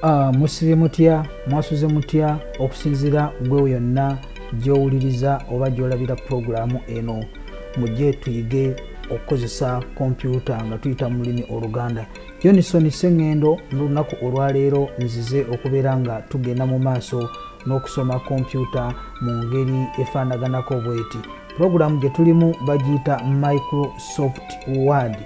Ah, musibye mutya mwasuze mutya okusinzira gwewo yonna gyowuliriza oba gyolabira pulogulaamu eno mujje tuyige okukozesa kompyuta nga tuyita mu lulimi oluganda Yonison Ssengendo n'olunaku olwaleero nzize okubeera nga tugenda mu maaso n'okusoma kompyuta mu ngeri efaanaganako bweti. Pulogulaamu gye tulimu bagiyita Microsoft Word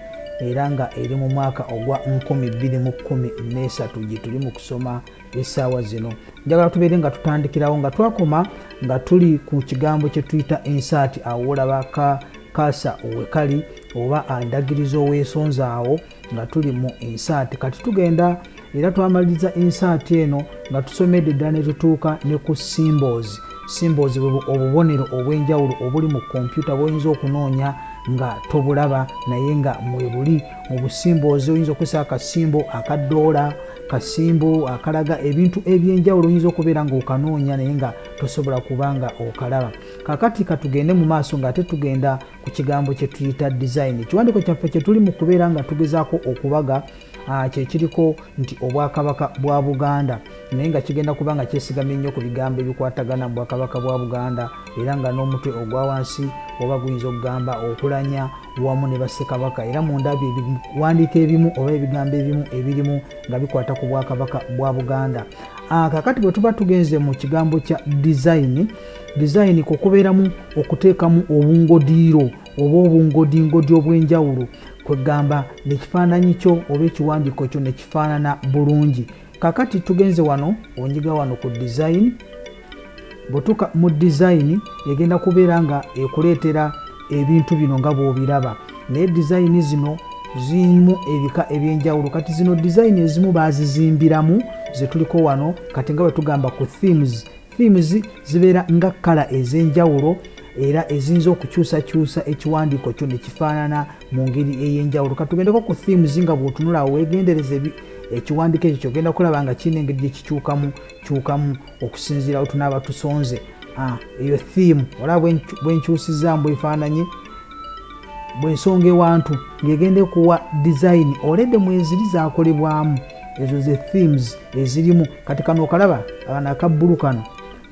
era nga eri mu mwaka ogwa nkumi bbiri mu kkumi n'esatu gye tuli mu kusoma essaawa zino. Njagala tubeere nga tutandikirawo nga twakoma nga tuli ku kigambo kye tuyita ensaati awo olaba ka kaasa owekali oba andagiriza oweesonza awo nga tuli mu insaati kati tugenda era twamaliriza insaati eno nga tusomedde ddala ne tutuuka ne ku symbols symbols bwe obubonero obw'enjawulo obuli mu kompyuta bwoyinza okunoonya nga tobulaba naye nga mwebuli mu busimboozi oyinza okukozesa akasimbo akadoola kasimbo akalaga ebintu ebyenjawulo oyinza okubeera nga okanoonya naye nga tosobola kuba nga okalaba kakati katugende mu maaso nga ate tugenda ku kigambo kye tuyita design ekiwandiiko kyaffe kye tuli mu kubeera nga tugezaako okubaga ah, kyekiriko nti obwakabaka bwa buganda naye nga kigenda kuba nga kyesigamye nnyo ku bigambo ebikwatagana mu bwakabaka bwa buganda era nga n'omutwe ogwa wansi oba guyinza okugamba okulanya wamu ne bassekabaka era mu ndabyo ebiwandiiko ebimu oba ebigambo ebimu ebirimu nga bikwata ku bwakabaka bwa buganda ah, kakati bwe tuba tugenze mu kigambo kya dizayini dizayini kwe kubeeramu okuteekamu obungodiiro oba obungodingodi obw'enjawulo kwegamba nekifaananyi kyo oba ekiwandiiko kyo nekifaanana bulungi kakati tugenze wano onyiga wano ku dizayini bwetuka mu dizayini egenda kubeera nga ekuleetera ebintu bino nga bwobiraba naye dizayini zino zirimu ebika ebyenjawulo kati zino dizayini ezimu bazizimbiramu zetuliko wano kati nga bwetugamba ku themes Themes zibeera nga kkala ez'enjawulo era eziyinza okukyusakyusa ekiwandiiko kyo ne kifaanana mu ngeri ey'enjawulo katugendeko ku themes nga bw'otunula awo weegendereze ekiwandiiko ekyo kyogenda kulaba nga kirina engeri gye kikyukamu kyukamu okusinziira we tunaaba tusonze ah, eyo theme olaba bwenkyusizaamu bwefaananye bwensonga ewantu ng'egenda ekuwa dizayini oledde mweziri zakolebwamu ezo ze themes ezirimu kati kano okalaba abana akabbulu kano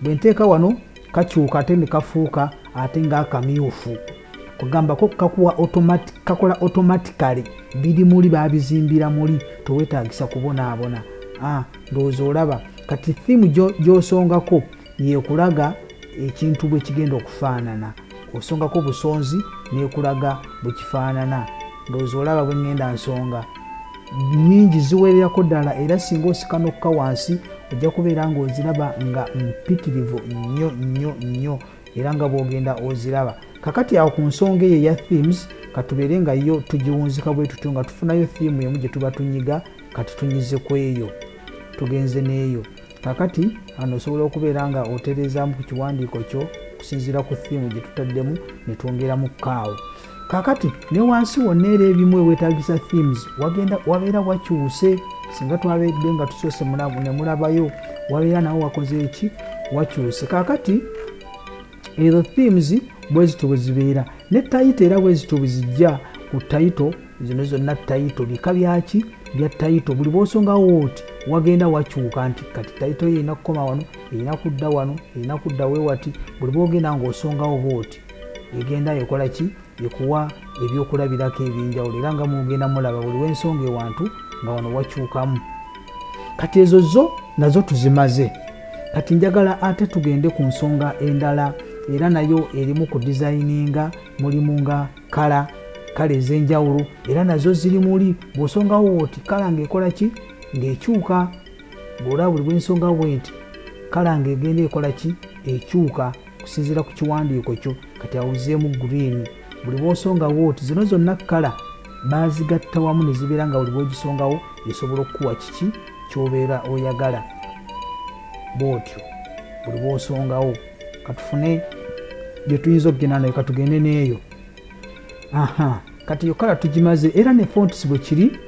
bwe nteeka wano kakyuka ate ne kafuuka ate ng'akamyufu kugambako kakuwa kakola automatically biri muli babizimbira muli tewetagisa kubonaabona ah, ndowooza olaba kati thimu gyosongako Yekulaga ekintu bwe kigenda okufaanana, osongako busonzi nekulaga bwe kifaanana. Ndowooza olaba bwe ŋŋenda nsonga. Nnyingi ziwererako ddala era singa osikanukka wansi ojja kubeera ng'oziraba nga mpitirivu nnyo nnyo nnyo era nga bw'ogenda oziraba. Kakati awo ku nsonga eyo eya themes katubeere nga yo tugiwunzika bwe tutyo nga tufunayo theme emu gye tuba tunyiga kati tunyize ku eyo tugenze n'eyo. kakati ano osobola okubeera nga otereezaamu ku kiwandiiko kyo okusinziira ku thiimu gye tutaddemu ne twongeramu kaawo kakati ne wansi wonna era ebimu ewetagisa themes wagenda wabeera wakyuse singa twabedde nga tusoose nemulabayo wabeera nawe wakoze eki wakyuse kakati ezo themes bwezityo bwezibeera ne tayito era bwezityo bwezijja ku tayito zino zonna tayito bika byaki bya tayito buli bwosongawo oti wagenda wakyuka nti kati tayito yo erina kukoma wano erina kudda wano erina kudda wewati buli bwogenda ngaosongawo booti egenda ekolaki ekuwa ebyokulabirako ebyenjawulo era nga mugenda mulaba buli wensonga ewantu nga wano wakyukamu kati ezo zo nazo tuzimaze kati njagala ate tugende ku nsonga endala era nayo erimu ku dizayininga mulimu nga kala kale ezenjawulo era nazo ziri muli bwosongawo woti kala ngaekola ki ngaekyuka bwolaba buli bwensonga bwenti kala ngaegenda ekola ki ekyuka okusinziira ku kiwandiiko kyo kati awuzeemu green buli bwosonga wooti zino zonna kala bazigatta wamu ne zibeera nga buli bwogisongawo esobola okukuwa kiki kyobeera oyagala bwotyo buli bwosongawo katufune gyetuyinza okugenda nayo katugende neeyo aha kati yo kala tugimaze era ne fonts bwe kiri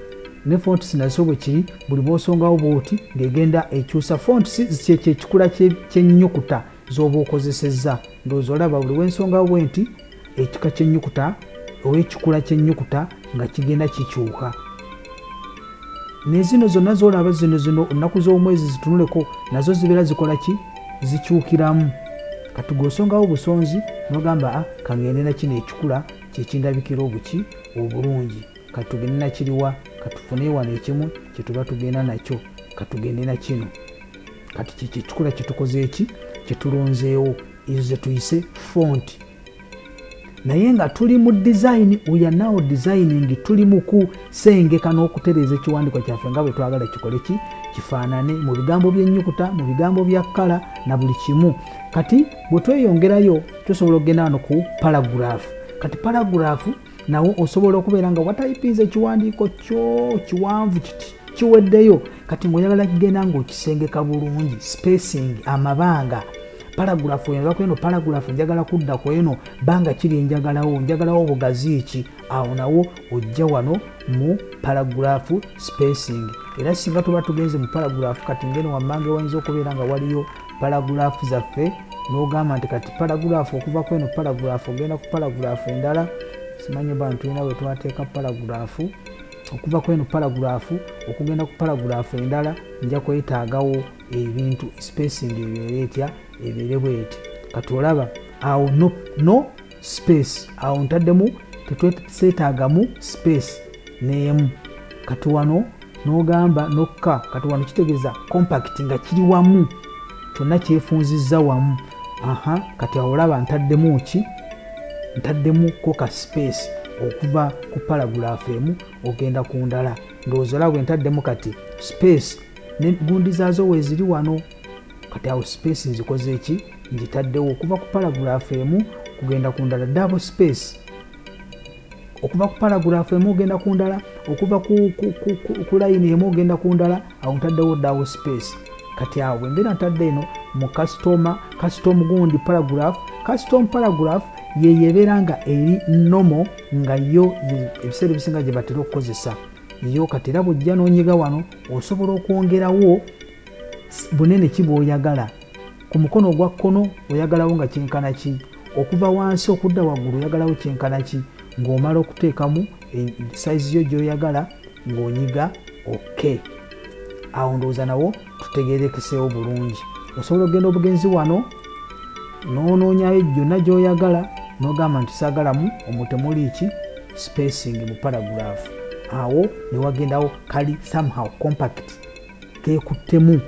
ne fonts nazo bwe kiri buli bwosongawo bwoti ng'egenda ekyusa fonts kyekyekikula kyennyukuta z'oba okozesezza ndowooza olaba buli wensonga bwe nti ekika kyennyukuta oba ekikula kyennyukuta nga kigenda kikyuka nezino zonna zolaba zino zino ennaku z'omwezi zitunuleko nazo zibeera zikola ki zikyukiramu kati gwosongawo busonzi nogamba ah, kangende nakino ekikula kyekindabikira obuki obulungi katugende nakiriwa katufune wano ekimu kyetuba tugenda nakyo katugende nakino kati kyekikula kyetukoze eki kyetulonzeewo ezo zetuyise font naye nga tuli mu design weyanawo designing tuli mukusengeka n'okutereeza ekiwandiko kyaffe nga bwetwagala kikole ki kifaanane mu bigambo byenyukuta mu bigambo bya kkala na buli kimu kati bwetweyongerayo tusobola okugenda wano ku paragraph kati paragraph nawo osobola okubeera nga watayipinza ekiwandiiko kyo kiwanvu kiti kiweddeyo kati ngaoyagala kigenda ngaokisengeka bulungi spacing amabanga paragulafu eno bakweno paragulafu njagala kudda ku eno banga kiri njagalawo njagalawo bugazi ki awo nawo ojja wano mu paragulafu spacing era singa tuba tugenze mu paragulafu kati ngeno wammange wayinza okubeera nga waliyo paragulaafu zaffe n'ogamba nti kati paragulaafu okuva ku eno paragulaafu ogenda ku paragulaafu endala simanyi oba ntulina we twateeka paragulaafu okuva ku eno paragulaafu okugenda ku paragulaafu endala nja kwetaagawo ebintu spacing ebeere etya ebeere bweti kati olaba awo no, no space awo ntaddemu tetweseetaagamu space neemu kati wano n'ogamba nokka kati wano kitegeeza compact nga kiri wamu kyonna kyefunzizza wamu aha kati awo olaba ntaddemu ki ntaddemu koka space okuva ku paragulaafu emu ogenda ku ndala ndowooza olaba bwe ntaddemu kati space ne gundi zaazo weeziri wano kati awo space nzikoze eki ngitaddewo okuva ku paragraph emu kugenda ku ndala double space okuva ku paragraph emu ogenda ku ndala okuva ku layini emu ogenda ku ndala awo ntaddewo double space kati awo bwembeera ntadde eno mu kasitoma kasitomu gundi paragraph kasitomu paragraph yeyo ebeera nga eri nomo nga yo ebiseera ebisinga gye batera okukozesa eyo kati era bwojja nonyiga wano osobola okwongerawo Bunene ki bw'oyagala? Ku mukono ogwa kkono oyagalawo nga kyenkana ki? Okuva wansi okudda waggulu oyagalawo kyenkana ki? Ng'omala okuteekamu sayizi yo gy'oyagala ng'onyiga oke. Awo ndowooza nawo tutegeerekeseewo bulungi. Osobola okugenda obugenzi wano n'onoonyayo gyonna gy'oyagala n'ogamba nti saagalamu omwo temuli ki spacing mu paragraph awo ne wagendawo kali somehow compact kekuttemu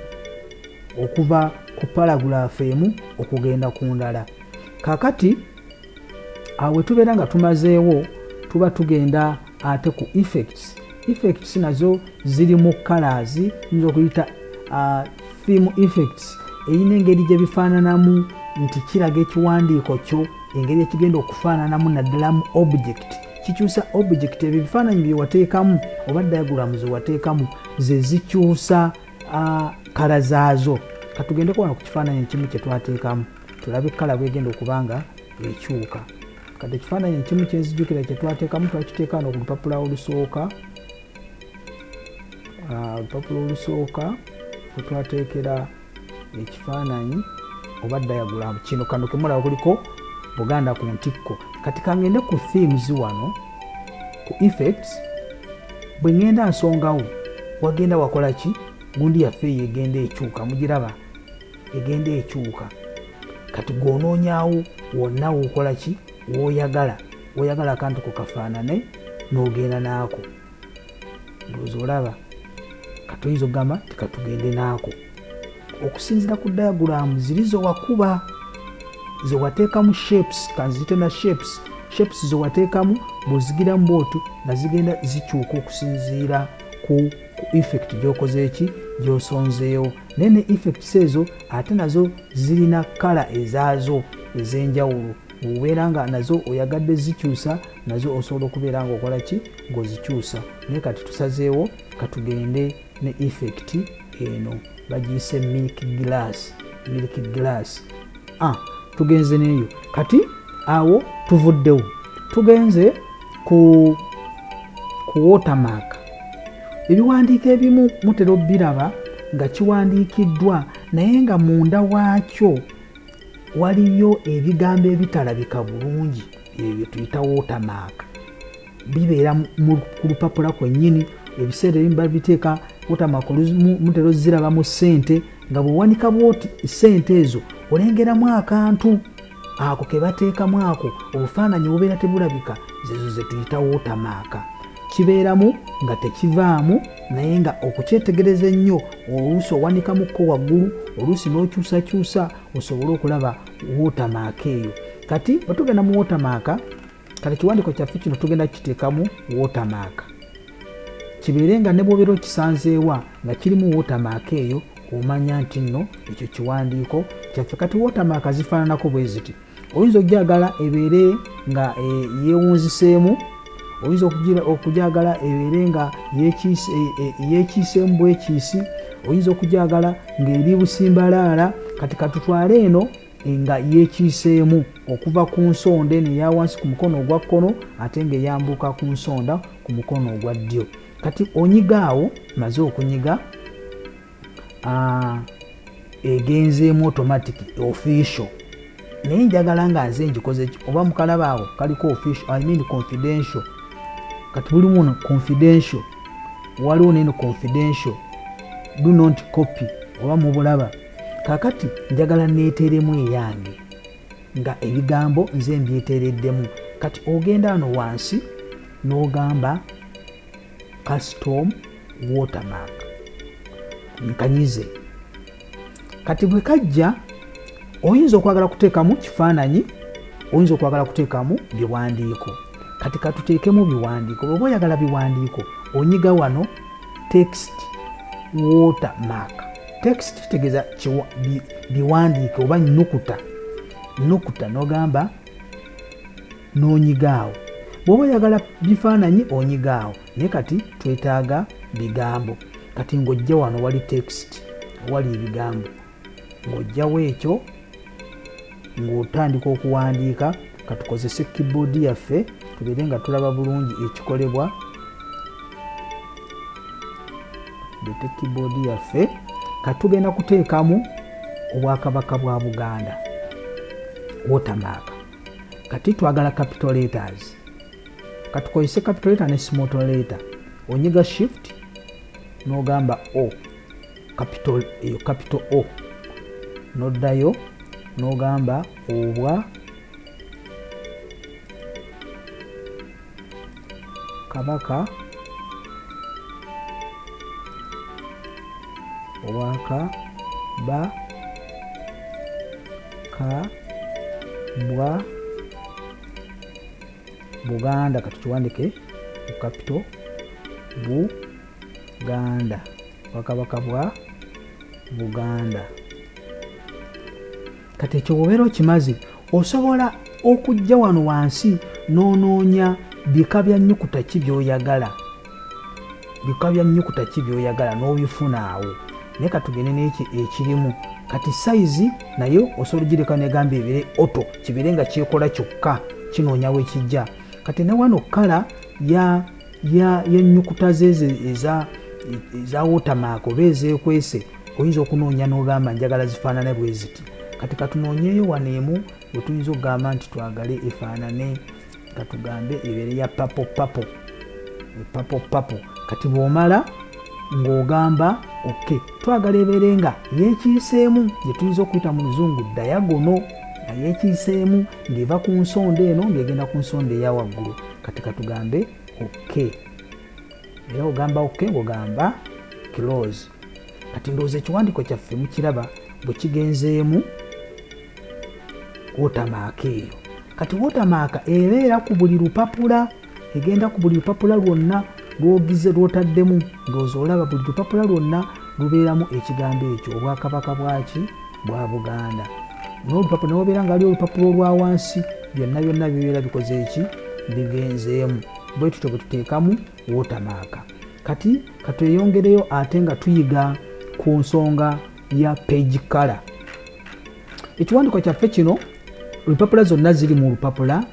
okuva ku paragulaafu emu okugenda ku ndala kakati awe tubeera nga tumazeewo tuba tugenda ate ku effects effects nazo ziri mu colors nyinza okuyita uh, theme effects eyina engeri gye bifaananamu nti kiraga ekiwandiiko kyo engeri ekigenda okufaananamu naddala mu object kikyusa object ebyo ebifaananyi byewateekamu oba diagrams wateekamu ze zikyusa kala zaazo katugende kuwano ku kifaananyi ekimu kye twateekamu tulabe kala bwegenda okuba nga ekyuka kati ekifaananyi ekimu kyenzijukira kye twateekamu twakiteeka wano ku lupapula olusooka olupapula olusooka wetwateekera ekifaananyi oba diagram kino kano kemulaba kuliko buganda ku ntikko kati kangende ku themes wano ku effects bwe ngenda nsongawo wagenda wakola ki gundi yaffe eyo egenda ekyuka mugiraba egenda ekyuka kati gwonoonyawo wonna wokola ki woyagala woyagala akantu ko kafaanane n'ogenda naako ndowooza olaba katoyinza okugamba tikatugende naako okusinzira ku diaguramu ziri zewakuba zewateekamu shapes kanziyite na shapes shapes zewateekamu bwozigiramu bootu nga zigenda zikyuka okusinziira ku ku effect gyokoze eki gyosonzeewo naye ne effects ezo ate nazo zirina kala ezaazo ez'enjawulo obeera nga nazo oyagadde zikyusa nazo osobola okubeera nga okola ki ngaozikyusa naye kati tusazeewo katugende ne effect eno bagiyise milk glass milk glass ah, tugenze neyo kati awo tuvuddewo tugenze ku ku watermark ebiwandiiko ebimu mutera obiraba nga kiwandiikiddwa naye nga munda waakyo waliyo ebigambo ebitalabika bulungi ebyo tuyita watermark bibeera ku lupapula kwennyini ebiseera ebimu babiteeka watermark mutera oziraba mu ssente nga bwewanika bwoti ssente ezo olengeramu akantu ako kebateekamu ako obufaananyi obubeera tebulabika zezo zetuyita watermark kibeeramu nga tekivaamu naye nga okukyetegereza ennyo oluusi owanikamukko waggulu oluusi n'okyusakyusa osobole okulaba wootamaka eyo kati bwe tugenda mu wootamaka kati ekiwandiiko kyaffe kino tugenda kukiteekamu wootamaka kibeere nga ne bwobeera okisanzeewa nga kirimu wootamaka eyo omanya nti nno ekyo kiwandiiko kyaffe kati wootamaka zifaananako bwe ziti oyinza okujagala ebeere nga eh, yeewunziseemu oyinza okugyagala ebeere nga yekiiseemu bwekiisi oyinza okugyagala ng'eri busimbalaala kati katutwale eno nga yekiiseemu okuva ku nsonda eno eya wansi ku mukono ogwa kkono ate ng'eyambuuka ku nsonda ku mukono ogwa ddyo kati onyiga awo maze okunyiga ah, egenzeemu automatic official naye njagala nga nze njikoze oba mukalaba awo kaliko official i mean confidential kati buli muno confidential waliwo neno confidential do not copy oba mubulaba kakati njagala neeteremu eyange nga ebigambo nze mbyeteereddemu kati ogenda ano wansi n'ogamba custom watermark nkanyize kati bwe kajja oyinza okwagala kuteekamu kifaananyi oyinza okwagala kuteekamu biwandiiko kati katuteekemu biwandiiko bweoba oyagala biwandiiko onyiga wano text water mark text kitegeeza biwandiike oba nukuta nukuta nogamba n'onyiga awo bw'oba oyagala bifaananyi onyiga awo naye kati twetaaga bigambo kati ng'ojja wano wali text wali ebigambo ng'ojjawo ekyo ng'otandika okuwandiika katukozese keyboard yaffe tubeere nga tulaba bulungi ekikolebwa lete keyboard yaffe katugenda kuteekamu obwakabaka bwa buganda wotamaaka kati twagala capital letters katukozese capital letter ne small letter onyiga shift nogamba o capital eyo capital o noddayo nogamba obwa kabaka waka ba ka bwa buganda katukiwandike ku kapito buganda wakabaka bwa buganda kati ekyo bwobeera okimaze osobola okujja wano wansi n'onoonya bika bya nnyukuta ki byoyagala bika bya nnyukuta ki byoyagala n'obifuna awo naye katugende n'ekyo ekirimu kati sayizi naye osobola ogireka negamba ebire oto kibeere nga kyekola kyokka kinoonya wekijja kati ne wano kala yennyukuta zeezo eza wotamaaka oba ezekwese oyinza okunoonya n'ogamba njagala zifaanane bwe ziti kati katunoonyeeyo wano emu we tuyinza okugamba nti twagale efaanane nga tugambe ebeere ya papo papo epapo papo kati bw'omala ng'ogamba ok twagala ebeere nga yeekiiseemu gye tuyinza okuyita mu luzungu dayagono nga yeekiiseemu ng'eva ku nsonda eno ng'egenda ku nsonda eya waggulu kati katugambe ok era ogamba oke ogamba close kati ndowooza ekiwandiiko kyaffe mukiraba bwe kigenzeemu wotamaaka eyo kati wotamaaka ebeera ku buli lupapula egenda ku buli lupapula lwonna lwogize lwotaddemu ndowooza olaba buli lupapula lwonna lubeeramu ekigambo ekyo obwakabaka bwaki bwa buganda nolupapula newobeera nga ali olupapula olwa wansi byonna byonna bibeera bikoze eki bigenzeemu bwe tutyo bwe tuteekamu wotamaaka kati katweyongereyo ate nga tuyiga ku nsonga ya page kala ekiwandiko kyaffe kino olupapula zonna ziri mu lupapula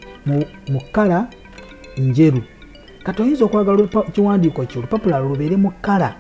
mu kala njeru kati oyinza okwagala ekiwandiiko kyo olupapula lubeere mu kala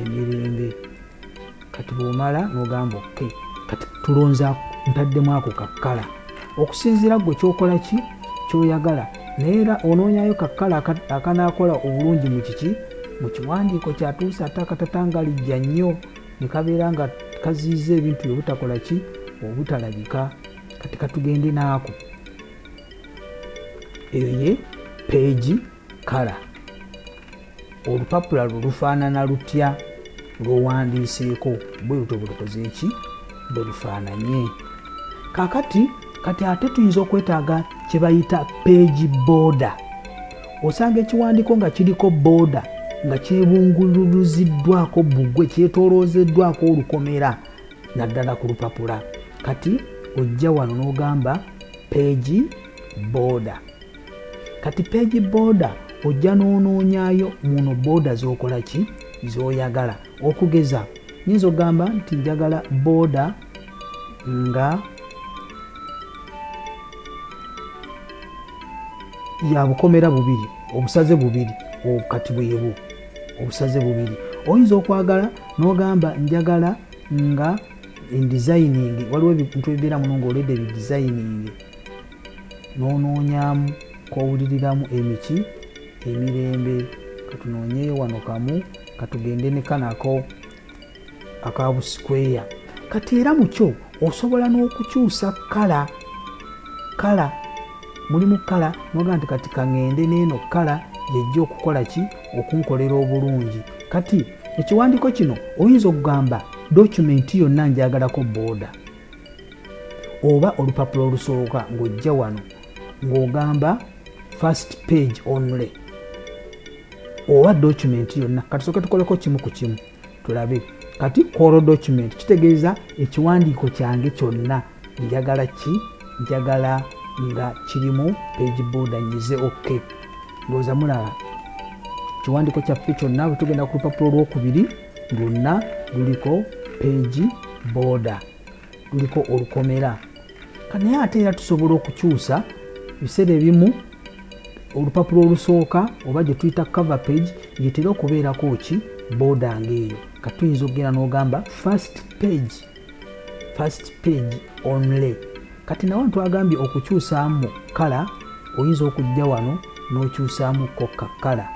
emirembe kati bwomala nogamba oke kati tulonza ntaddemu ako kakkala okusinziira gwe kyokola ki kyoyagala naye era onoonyayo kakkala akanaakola obulungi mu kiki mu kiwandiiko kyatuusa ate akatata nga lijja nnyo ne kabeera nga kaziyiza ebintu bye butakola ki obutalabika kati katugende naako eyo ye peegi kala olupapula lwo lufaanana lutya lwowandiiseeko bwe luto bulukoze eki bwe lufaananye kakati kati ate tuyinza okwetaaga kye bayita peegi booda osanga ekiwandiiko nga kiriko booda nga kyebungululuziddwako bugwe kyetoloozeddwako olukomera naddala ku lupapula kati ojja wano n'ogamba peegi booda kati page boda ojja nonoonyayo muno boda zokola ki zoyagala okugeza nyinza ogamba nti njagala boda nga yabukomera bubiri obusaze bubiri obukati bwebu obusaze bubiri oyinza okwagala nogamba njagala nga endisayiningi waliwo ebintu ebibeera muno ngaolede ebidisayiningi Nonoonyamu kowuliriramu emiki emirembe katunoonyeyo wano kamu katugende ne kano ako aka busikweya kati era mukyo osobola n'okukyusa kala kala mulimu kala noga nti kati kaŋende neeno kala yejja okukola ki okunkolera obulungi kati ekiwandiiko kino oyinza okugamba document yonna njagalako booda oba olupapula olusooka ng'ojja wano ng'ogamba first page only oba document yonna katusooke tukoleko kimu ku kimu tulabe kati koro document kitegeeza ekiwandiiko kyange kyonna njagala ki njagala nga kirimu page boda nyize ok ndowooza mulaba ekiwandiiko kyaffe kyonna bwetugenda ku lupapula olwokubiri lwonna luliko peegi booda luliko olukomera naye ate era tusobola okukyusa ebiseera ebimu olupapula olusooka oba gye tuyita cover page yetera okubeerako ki booda ngaeyo katuyinza okugenda n'ogamba first page first page only kati nawe ntwagambye okukyusaamu kala oyinza okujja wano nokyusaamu ko kakala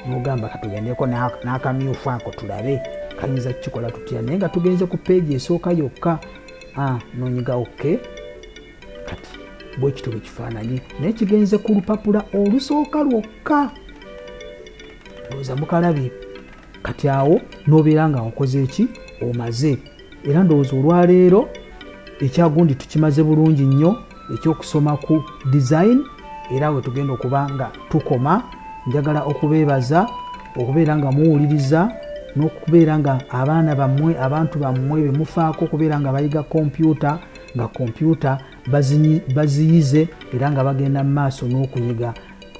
nogamba katugendeko nakamyufu ako tulabe kayinza kukikola tutya naye nga tugenze ku peegi esooka yokka ah, nonyiga oke kati bwekityo bwekifaananyi naye kigenze ku lupapula olusooka lwokka oza mukalabye kati awo nobeera nga okoze eki omaze era ndowooza olwaleero ekyagundi tukimaze bulungi nnyo ekyokusoma ku design era wetugenda okuba nga tukoma njagala okubeebaza okubeera nga muwuliriza n'okubeera nga abaana bammwe abantu bammwe bemufaako okubeera nga bayiga kompyuta nga kompyuta baziyize era nga bagenda mu maaso n'okuyiga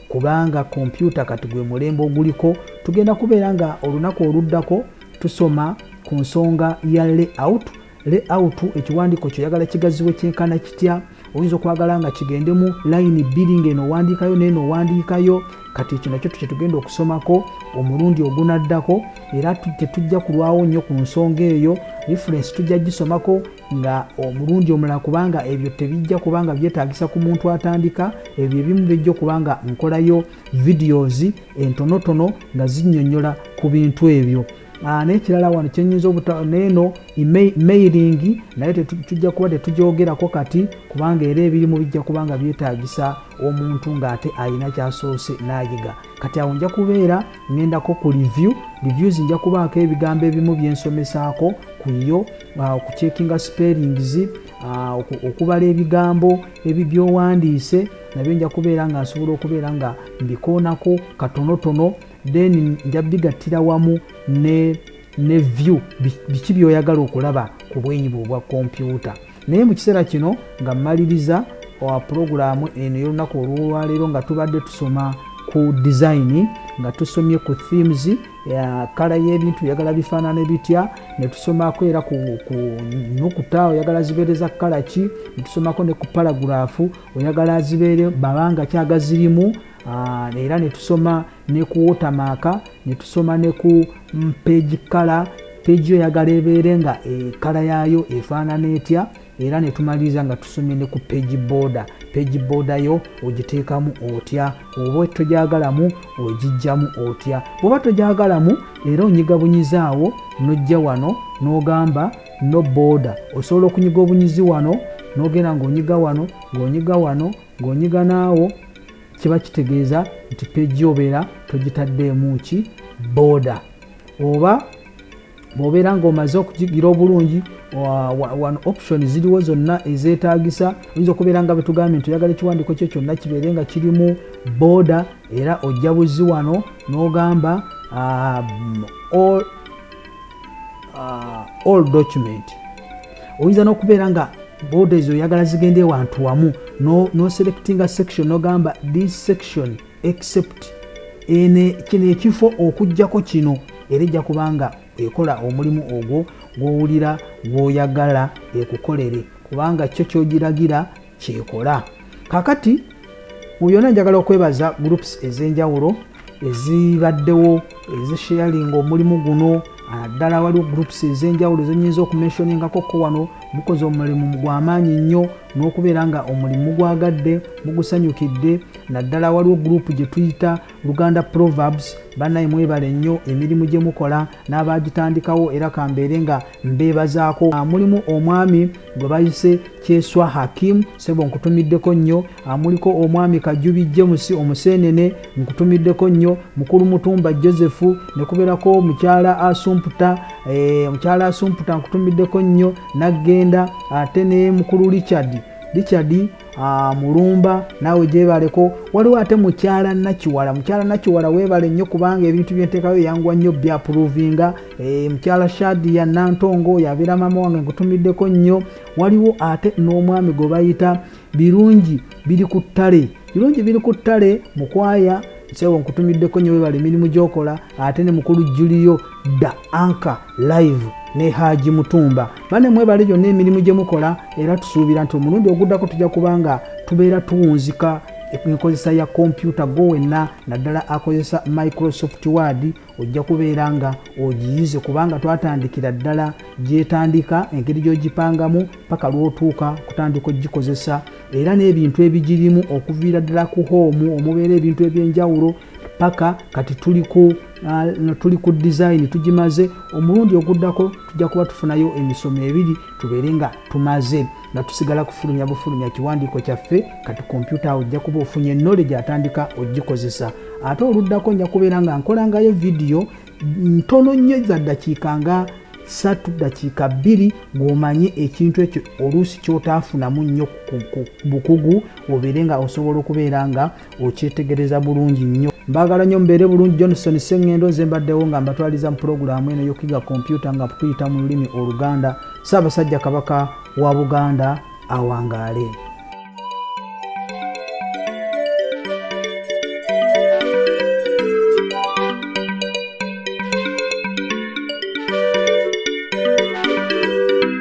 kubanga kompyuta kati gwe mulembe oguliko tugenda kubeera nga olunaku oluddako tusoma ku nsonga ya layout layout ekiwandiiko kyoyagala kigaziwe kyenkana kitya oyinza okwagala nga kigendemu layini bbiri ngaeno owandiikayo neeno owandiikayo kati ekyo nakyo tukyetugenda okusomako omulundi ogunaddako era tetujja kulwawo nnyo ku nsonga eyo referensi tujja gisomako nga omulundi omulala kubanga ebyo tebijja kubanga byetagisa ku muntu atandika ebyo ebimu bijja okubanga nkolayo videos entonotono nga zinyonyola ku bintu ebyo ah, nekirala wano kyenyinza obutaneno mailing naye tujja kuba tetugyogerako kati kubanga era ebirimu bijja kubanga byetagisa omuntu ngaate ayina kyasoose nayiga kati awo nja kubeera ngendako ku review reviews nja kubaako ebigambo ebimu byensomesaako kuyo uh, okucekinga spellings uh, okubala ebigambo ebibyowandiise nabyo nja kubeera nga nsobola okubeera nga mbikoonako katonotono then nja bigattira wamu ne ne view biki byoyagala okulaba ku bwenyi bwe obwa kompyuta naye mu kiseera kino nga mmaliriza owa pulogulaamu eno ey'olunaku olwolwaleero nga tubadde tusoma ku dizayini nga tusomye ku themes kala y'ebintu yagala bifaanana ebitya netusomako era ku nukuta oyagala zibeereza kala ki netusomako ne ku paraguraafu oyagala zibeere babanga kyagazirimu era netusoma ne ku watermark ne tusoma ne ku page color page oyagala ebeere nga ekala yaayo efaanana etya era ne tumaliriza nga tusomye ne ku page border page border yo ogiteekamu otya oba togyagalamu ogijjamu otya bwoba togyagalamu era onyiga bunyizaawo nojja wano n'ogamba no border osobola okunyiga obunyizi wano n'ogenda ng'onyiga wano ng'onyiga wano ng'onyiga naawo kiba kitegeeza nti peji obeera togitaddeemu ki booda oba bwobeera ngaomaze okugigira obulungi wano option ziriwo zonna ezetagisa oyinza okubeera nga betugambye nti oyagala ekiwandiko kyo kyonna kibeere nga kirimu booda era ojja buzi wano nogamba um, uh, all document oyinza n'okubeera nga boda ezo oyagala zigenda ewantu wamu noselectinga no section nogamba this section except ene kino ekifo okugjako kino era ejja kubanga ekola omulimu ogwo gwowulira gwoyagala ekukolere kubanga kyo kyogiragira kyekola kakati mu byona njagala okwebaza groups ezenjawulo ezibaddewo ezisharinga omulimu guno naddala waliwo groups ezenjawulo zenyinza okumenshoningako ko wano mukoze omulimu gwamaanyi nnyo n'okubeera nga omulimu mugwagadde mugusanyukidde naddala waliwo group gyetuyita Luganda proverbs banaye mwebale nnyo emirimu gye mukola n'abaagitandikawo era kambeere nga mbeebazaako ah, mulimu omwami gwe bayise kyeswa hakim sebo nkutumiddeko nnyo ah, muliko omwami kajubi james omuseenene nkutumiddeko nnyo mukulu mutumba joseph ne kubeerako mukyala asumputa eh, mukyala asumputa nkutumiddeko nnyo naggenda ate ne mukulu richard richard Ah, mulumba naawe gyebaleko waliwo ate mukyala nakiwala mukyala nakiwala weebale nnyo kubanga ebintu byenteekayo yanguwa nnyo byapuruvinga eh, mukyala shadi ya nantongo yabeera maama wange nkutumiddeko nnyo waliwo ate n'omwami gwe bayita birungi biri ku ttale birungi biri ku ttale mukwaya sewo nkutumiddeko nnyo weebale emirimu gyokola ate ne mukulu julio da anka live ne haji mutumba bane mwebale gyonna emirimu gye mukola era tusuubira nti omulundi oguddako tujja kuba nga tubeera tuwunzika enkozesa ya kompyuta gwo wenna naddala akozesa microsoft word ojja kubeera nga ogiyize kubanga twatandikira ddala gyetandika engeri gyogipangamu paka lwotuuka kutandika ogikozesa era n'ebintu ebigirimu okuviira ddala ku hoomu omubeera ebintu ebyenjawulo paka kati tuli ku uh, tuli ku design tugimaze omulundi oguddako tujja kuba tufunayo emisomo ebiri tubeere nga tumaze nga tusigala kufulumya bufulumya kiwandiiko kyaffe kati kompyuta awo ojja kuba ofunye knowledge atandika ogikozesa ate oluddako nja kubeera nga nkolangayo vidiyo ntono nnyo za ddakiika nga satu dakiika bbiri ng'omanyi ekintu ekyo oluusi kyotaafunamu nnyo bukugu obeere nga osobola okubeera nga okyetegereza bulungi nnyo mbagala nyo mbeere bulungi johnson sengendo nze mbaddewo nga mbatwaliza mu pulogulaamu eno yokuyiga kompyuta nga kutuyita mu lulimi oluganda saabasajja kabaka wa buganda awangaale